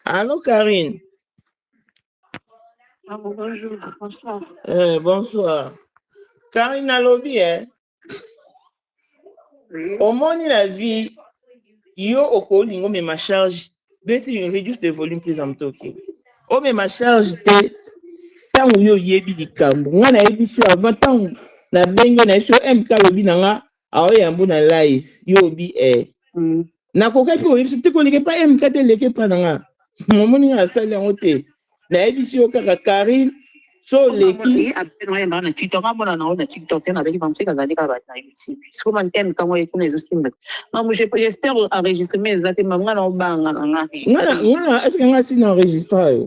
Allô, Karine. Ah, bonjour, bonsoir. Eh, bonsoir. Karine alobi, eh. Oui. omoni na vie yo okolinga omema charge beti you reduce the volume please am talking omema charge te ntango yo oyebi likambo ngai nayebisi yo avant ntango nabengi yo nayebi so mk alobi na nga aoye yambo na live yo obi eh mm. nakokaki oyebisi te koleka epa eh, mk te eleka epa na nga momoni nga asali yango te nayebisi yo kaka karine so oleki nga na eske nga si na enregistra yo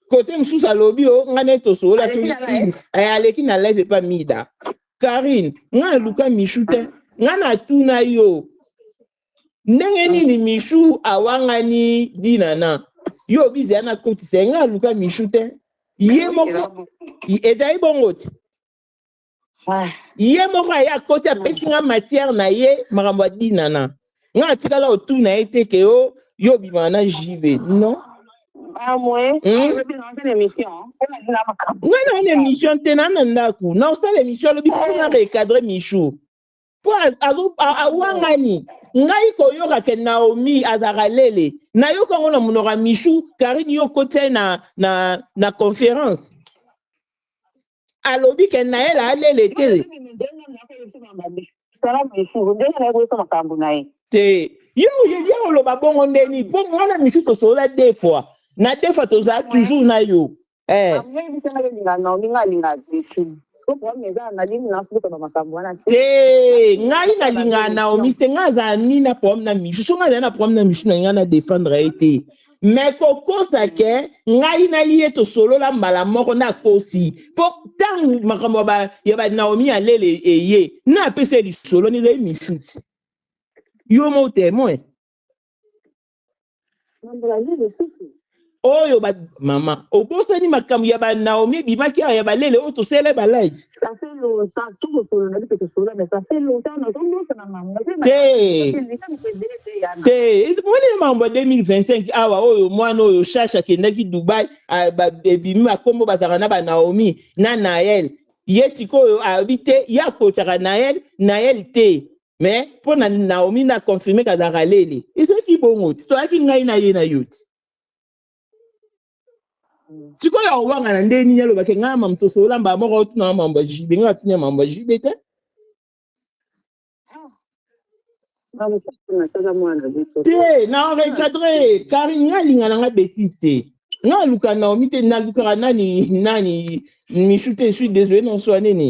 kote mosusu alobi o ngai naye tosolola aleki na live epa mida karine ngai naluka michu te ngai natuna yo ndenge nini michu awangani dinana yo obizi ya nakotisa ye ngai naluka michu te ye moko ezali bongo ti ah. ye moko aye akoti apesi nga matière na ye makambo ya dinana nga atikala otuna ye te ke yo yo obimaka na jb non nga na na émission te na na ndako na osala émission alobi biso na recadre michou mpo awangani ngai koyoka ke naomi azalaka lele nayoka yango na monoko ya michou karine yo okotia ye na, na, na conférence alobi ke naela alele te te yo oyebi oloba bongo ndeni mpo mwana misu tosolola de fois na de fois tozala toujours na yo eh. te ngai nalingaka naomi te ngai azala nini na problème na misu so ngai azali na problème na misu na ngai na defendre ye te me kokosa mm. ke ngai na ye tosolola mbala moko nakosi mpo ntango makambo ya banaomi ya lele eye napesa lisolo nizali misuti yo mo temoin oyo mama obosani makambo ya banaomi ebimaki awa ya balele oyo tosele balai ça fait longtemps tokosolola mpe tosolola mais ça fait longtemps nazobosana makambo te moni ye makambo ya 2025 awa oyo mwana oyo shashe akendaki dubai ebimi bakombo bazalaka na banaomi na nael ye sikoyo alobi te ye akotaka nael nael te mais mpo na naomi na confirme kazalaka lele ezalaki bongo te toyaki ngai na ye na yo te sikoyo awanga na ndenge nini alobake ngai mamu tosolola mbala moko otunanga mambo ya jibe ngai natuni ya mambo ya jibe te te na recadre karine ngai alinga na ngai betise te ngai aluka naomi te nalukaka nani nani michu te suis désolé na swa nini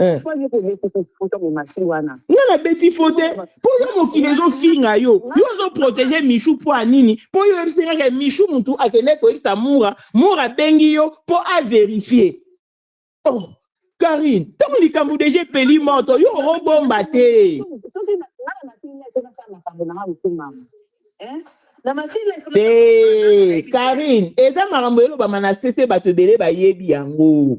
Eh. nga nabeti fo te mpo yo mokili ezofinga yo yo ozoprotege michu mpo ya nini mpo yo oyebisi kaka michu motu akende koyebisa mura mura abengi yo mpo averifie oh karine ntango likambo deja epeli moto yo orobomba te te karine eza makambo elobama na sese bato ebele bayebi yango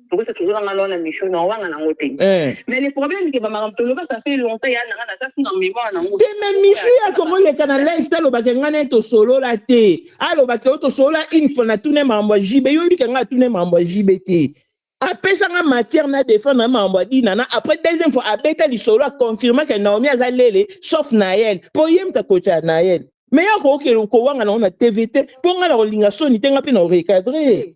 Tokosa toujours nga lona mission na wanga na ngote. Eh. Mais le problème que ba makambo toloba ça fait longtemps ya nanga na kasi na mémoire na ngo. Te mais misu ya ko moleka na live ta loba ke ngana to solola te. A loba ke to solola une fois na tune mambo JB yo yibika nga tune mambo JB te. apesa nga matière na défendre mambo ya dinana après deuxième fois abeta lisolo aconfirme ke naomi aza lele sauf nael mpo ye moto akotya nael me ya kookele kowanga nango na tv te mpo ngai na kolinga soni te ngai mpe na recadre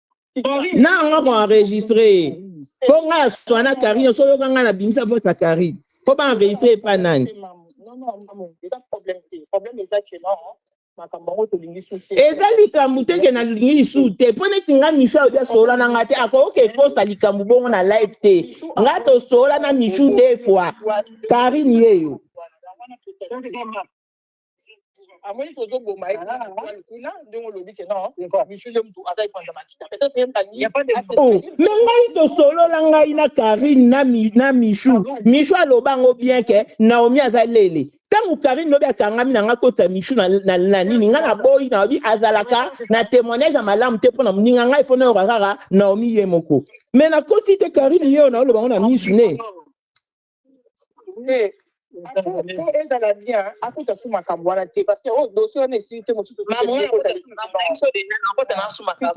nanga ko enregistre ye mpo ngai na swana karine oso oyoka ngai na bimisa vote ya karine mpo ba enregistre epa nani eza likambo te ke nalingi lisusu te mpo neti ngai misu alobi asolola na ngai te akoki ekosa likambo bongo na live te ngai tosolola na misu de fois karine yeyo amoni tozo boma ye kuna ndenge olobi ke non michu nde mutu aza epanza makita peut-être ye mbani oh, me ngai tosolola ngai na karine na michu michu aloba yango bien ke naomi aza lele ntango karine lobi akangami na ngai kota michu na nini ngai naboyi naobi azalaka na témoignage ya malamu te mpo na moninga ngai fo nayoka kaka naomi ye moko me nakosi te karine ye oyo naoloba yango na michu ne te po ezala bien akuta su makambo wana te parce que oyo dossier wana esili te mosusu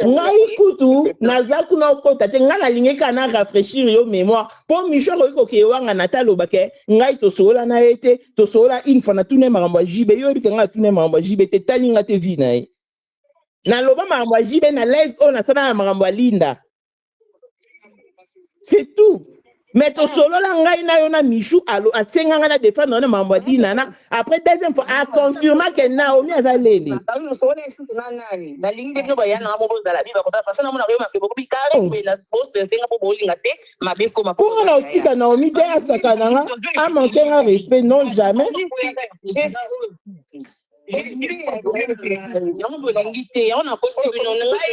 ngai kutu naza kuna okota te ngai nalingi kaka na rafraîchir yo mémoire po micho akoki kokeye wanga na ta aloba ke ngai tosolola na ye te tosolola une fois natuna ye makambo ya jibe yo oyebike ngai natuna ye makambo ya jibe te tali nga te vi na ye naloba makambo ya jibe na live oyo nasala na makambo ya linda c'est tout mais tosolola ngai na yo na michou alo asenga ngai na defendre na mambo ya dinana après deuxième fois aconfirma ke naomi aza lele konga na otika naomi te asakana nga amanke nga respect non jamais yango bolingi te yango nakosi bino ngai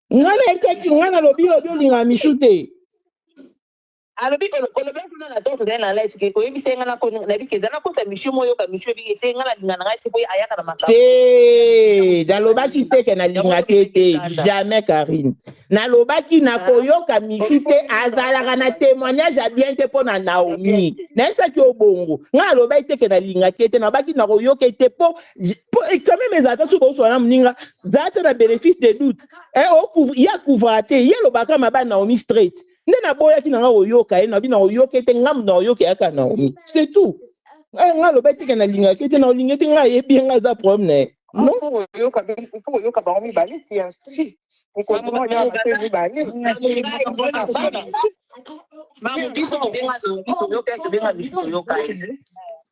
nga na esaki nga na lobi obi olinga michou te alobi olobaki kuna na donc ozali na live ke oyebisa ye ngai nako nayebi ke ezali nakosa misio mo oyoka misio ebi ete ngai nalinga na ngai te boye ayaka na makambo te nalobaki te ke nalingaki ye te jamais karine nalobaki nakoyoka misi te azalaka na témoignage ya bien te mpo na naomi nayebisaki yo bongo ngai nalobaki te ke nalingaki ye te nalobaki nakoyoka ye te mpo quand même ezalaka soki oswana moninga zala te na benefice de doute eh, ye akuvra te ye alobaka maba naomi straight nde naboyaki na nga koyoka ye nabi na koyoka ete ngambo na koyoka yaka naomi c'est tout eh, nga aloba eteke nalingaka ete na olinga ete nga ayebi ye nga aza problème na ye koyoka bango mibale si mibale Mamu biso tobenga lobi toyoka ye tobenga biso toyoka ye.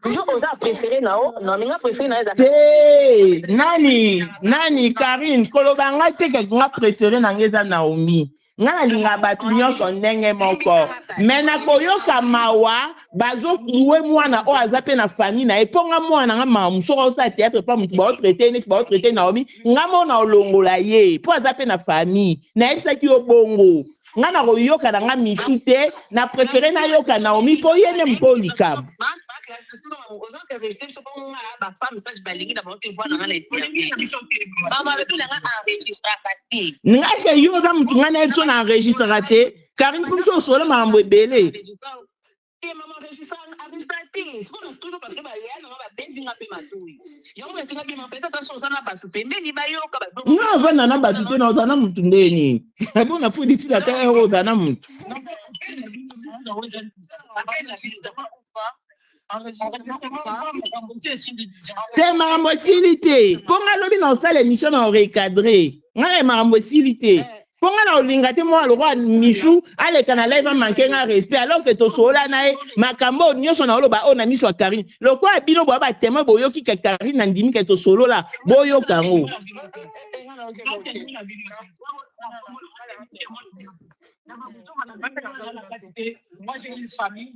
Yo oza prefere na yo na minga prefere na eza. Te nani nani Karine koloba ngai te ke nga prefere na ngai eza Naomi. Nga nalinga bato nyonso ndenge moko me nakoyoka mawa bazoklue mwana oyo aza mpe na famille na ye mpo nga mwana nga mamu soki osala théâtre mpa motu baotraite neti baotraite Naomi nga mona olongola ye mpo aza mpe na famille nayebisaki yo bongo nga na koyoka na nga mifi te na prefere nayoka naomi mpo ye nde mpo likambo nga ke yo oza motu ngai na ye biso na enregistraka te karine mpo biso osolo makambo ebele te mama regisane abimisa te sikoyo natuni parce que baya nanga babeti nga mpe matoi yango natika bima mpe tata so oza na bato pembeni bayoka nga avanda na bato te na oza na motu nde nini abo na polisi na ta yango oza na motu te makambo esili te mpo nga lobi na osala émission na orecadre ngai makambo esili te mpo ngai na olinga te mwana lokola michou aleka na live amanke ngai respect alors ke tosolola na ye makambo oyo nyonso na oloba oyo na miso ya karine lokola bino boya batemoin boyoki ke karine na ndimi ke tosolola boyoka yango Moi, j'ai une famille,